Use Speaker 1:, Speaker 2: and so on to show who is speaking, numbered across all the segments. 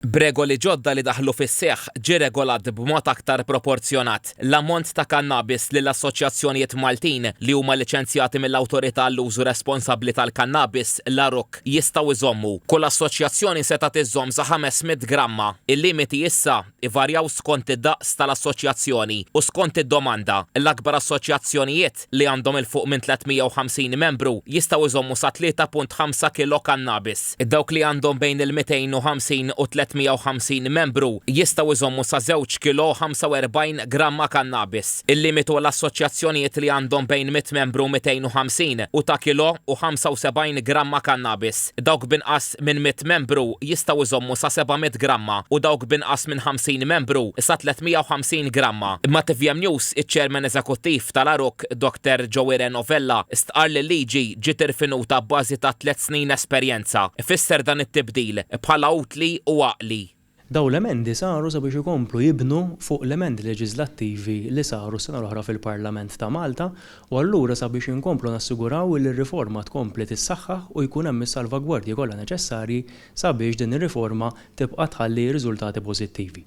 Speaker 1: B'regoli ġodda li daħlu fis-seħħ, ġie regolat b'mod aktar proporzjonat l-ammont ta' kannabis li l-assoċjazzjonijiet Maltin li huma liċenzjati mill-Awtorità għall-Użu Responsabbli tal-Kannabis, l-ARUC, jistgħu jżommu. Kull assoċjazzjoni setgħet iżżomm sa 500 gramma. Il-limiti issa ivarjaw skont id-daqs tal-assoċjazzjoni u skont id-domanda. L-akbar assoċjazzjonijiet fil-fatt li għandhom 'il fuq minn 350 membru jistgħu jżommu sa 3.5 kilo kannabis. Dawk li għandhom bejn il-250 u 350 membru jistgħu jżommu sa żewġ kilo u 45 gramma kannabis. Il-limitu għal assoċjazzjonijiet li għandhom bejn mitt membru u 250 u ta' kilo u 75 gramma kannabis. Dawk b'inqas. iżjed minn 100 membru jistgħu jżommu sa 700 gramma u dawk b'inqas minn 50 membru sa 350 gramma. Ma' tvm News, iċ-Chairman Eżekuttiv tal-Għaruk, Dr Joe Ireno Vella, stqarr li l-liġi ġiet irfinuta abbażi ta' tliet snin esperjenza. Ifisser dan it-tibdil bħala utli u għaqli. Dawn l-emendi
Speaker 2: saru sabiex ikomplu jibnu fuq l-emendi leġiżlattivi li saru s-sena l-oħra fil-Parlament ta' Malta u allura sabiex inkomplu nassiguraw li r-riforma tkompli tissaħħaħ u jkun hemm is-salvagwardji kollha neċessarji sabiex din ir-riforma tibqa' tħalli riżultati pożittivi.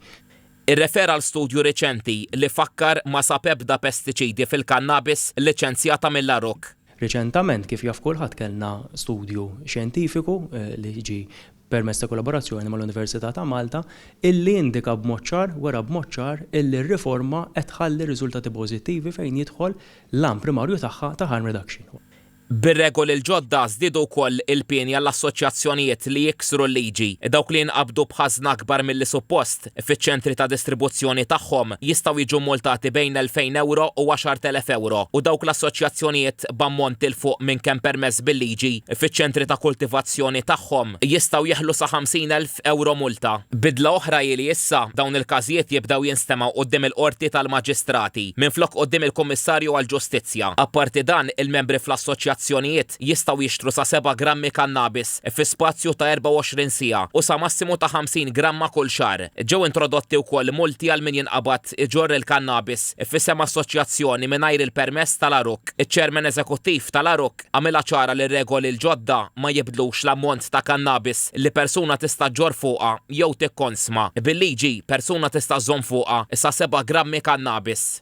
Speaker 2: Irrefera għal
Speaker 1: studju riċenti li fakkar ma sab ebda pestiċidi fil-kannabis liċenzjata mill-Aruc. Riċentament, kif
Speaker 2: jaf kulħadd kellna studju xjentifiku li ġie permezz ta' kollaborazzjoni mal-Università ta' Malta, illi indika b'mod ċar, wera b'mod ċar, illi r-riforma qed tħalli riżultati pożittivi fejn jidħol l-għan primarju tagħha ta' harm reduction. Bir-regoli
Speaker 1: l-ġodda żdiedu wkoll il-pieni għall-assoċjazzjonijiet li jiksru l-liġi, dawk li jinqabdu b'ħażna akbar milli suppost, fiċ-ċentri ta' distribuzzjoni tagħhom jistgħu jiġu mmultati bejn l-2,000 ewro u 10,000 ewro u dawk l-assoċjazzjonijiet b'ammont 'il fuq minn kemm permess bil-liġi fiċ-ċentri ta' kultivazzjoni tagħhom jistgħu jeħlu sa 50,000 ewro multa. Bidla oħra hi li issa dawn il-każijiet jibdew jinstemgħu quddiem il-Qorti tal-Maġistrati minflok quddiem il-Kummissarju għall-Ġustizzja. Apparti dan, il-membri fl-assoċjazzjonijiet, kuntratt, jistgħu jixtru sa seba' grammi kannabis fi spazju ta' 24 siegħa u sa massimu ta' 50 gramma kull xahar. Ġew introdotti wkoll multi għal min jinqabad iġorr il-kannabis f'isem assoċjazzjoni mingħajr il-permess tal-għarukk. Iċ-Chairman Eżekuttiv tal-għarukk għamilha ċara li r-regoli l-ġodda ma jibdlux l-ammont ta' kannabis li persuna tista' ġġorr fuqha jew tikkonsma. Bil-liġi, persuna tista' żżomm fuqha sa seba' grammi kannabis.